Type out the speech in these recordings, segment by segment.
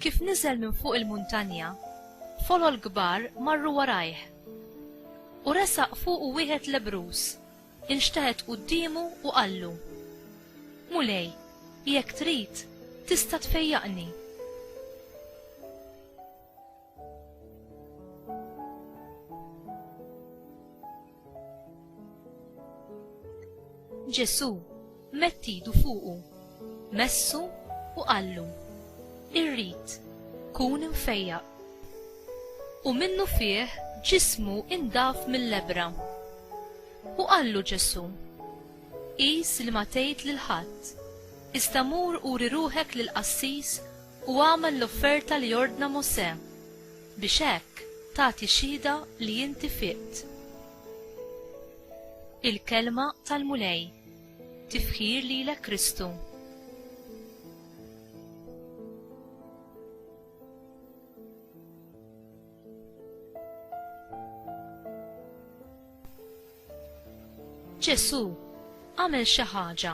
Kif niżel minn fuq il-muntanja, folol kbar marru warajh. U resaq fuq u wieħed lebrus, inxteħet quddiemu u qallu, Mulej, jekk trid, tista' tfejjaqni. Ġesù mettidu fuqu, messu u qallu, Irrid, kun imfejjaq. U minnu fih ġismu indaf mill-lebra. U qallu Ġesù, Qis li ma tgħid lil ħadd, iżda mur uri ruħek lill-qassis u agħmel l-offerta li ordna Mosè, biex hekk tagħti xhieda li inti fiqt. Il-Kelma tal-Mulej Tifħir lilek Kristu. Ġesù għamel xi ħaġa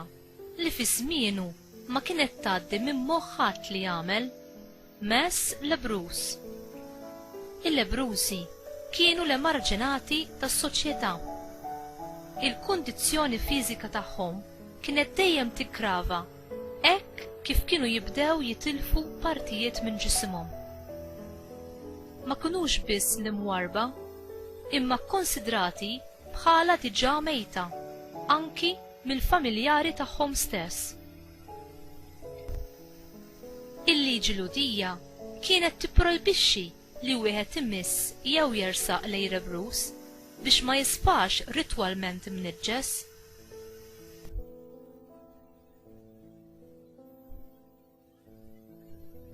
li fi żmienu ma kienet tgħaddi minn moħħ ħadd li jagħmel, mess lebruż. Il-lebrużi kienu l-emarġinati tas-soċjetà. Il-kundizzjoni fiżika tagħhom kienet dejjem tiggrava Hekk kif kienu jibdew jitilfu partijiet minn ġisimhom. Ma kinux biss l-imwarrba, imma kkunsidrati bħala diġà mejta anki mill-familjari tagħhom stess. Il-liġi Lhudija kienet tipprojbixxi li wieħed imiss jew jersaq l-għerebruż biex ma jisfax ritwalment imniġġes.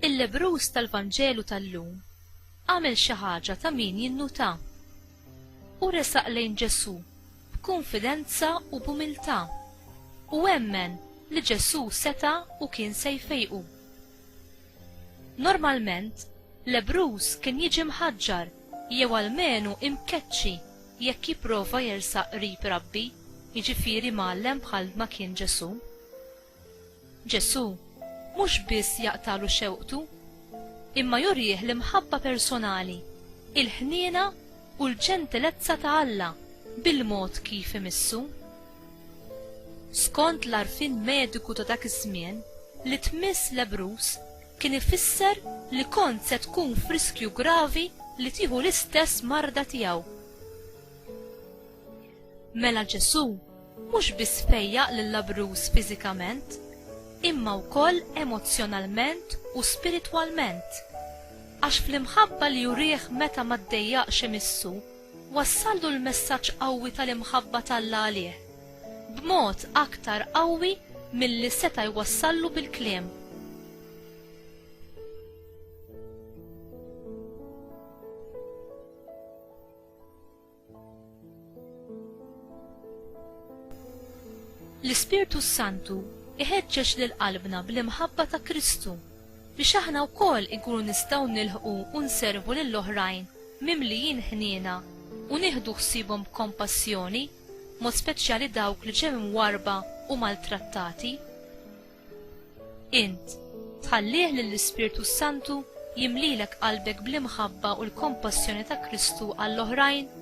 Il-lebrus tal-Vanġelu tal-lum għamel xi ħaġa ta' min jinnuta. U resaq lejn Ġesù b'kunfidenza u b'umiltà u emmen li Ġesù seta' u kien se jfejqu. Normalment, lebbruż kien jiġi mħaġġar jew almenu imkeċċi jekk jipprova jersaq qrib rabbi, jiġifieri mgħallem bħal ma kien Ġesù. Ġesù mhux biss jaqtagħlu xewqtu, imma jurih l-imħabba personali, il-ħniena u l-ġentilezza ta' Alla bil-mod kif imissu. Skont l-għarfien mediku ta' dak iż-żmien, li tmiss lebbruż kien ifisser li kont se tkun f'riskju gravi li tieħu l-istess marda tiegħu. Mela Ġesù mhux biss fejjaq lil-labbruż fiżikament, imma wkoll emozzjonalment u spiritwalment, għax fl-imħabba li urieh meta ma ddejjaqx imissu, Wassallu l-messaġġ qawwi tal-imħabba t'Alla għalih, b'mod aktar qawwi milli seta' jwassallu bil-kliem. L-Ispirtu s-Santu iħeġġeġ lil qalbna bl-imħabba ta' Kristu biex aħna wkoll inkunu nistgħu nilħqu u nservu lil oħrajn mimlijin ħniena u nieħdu ħsiebhom b'kompassjoni, b'mod speċjali dawk li ġew imwarrba u maltrattati. Int, tħallih lill-Ispirtu s-Santu jimlilek qalbek bl-imħabba u l-kompassjoni ta' Kristu għall-oħrajn?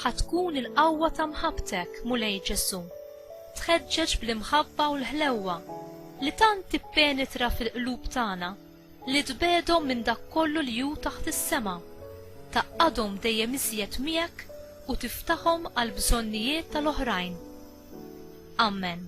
Ħa tkun il-qawwa ta' mħabbtek, Mulej Ġesù, tħeġġeġ bl-imħabba u l-ħlewwa li tant tippenetra fil-qlub tagħna li tbegħdhom minn dak kollu li hu taħt is-sema, tgħaqqadhom dejjem iżjed miegħek u tiftaħhom għall-bżonnijiet tal-oħrajn. Amen.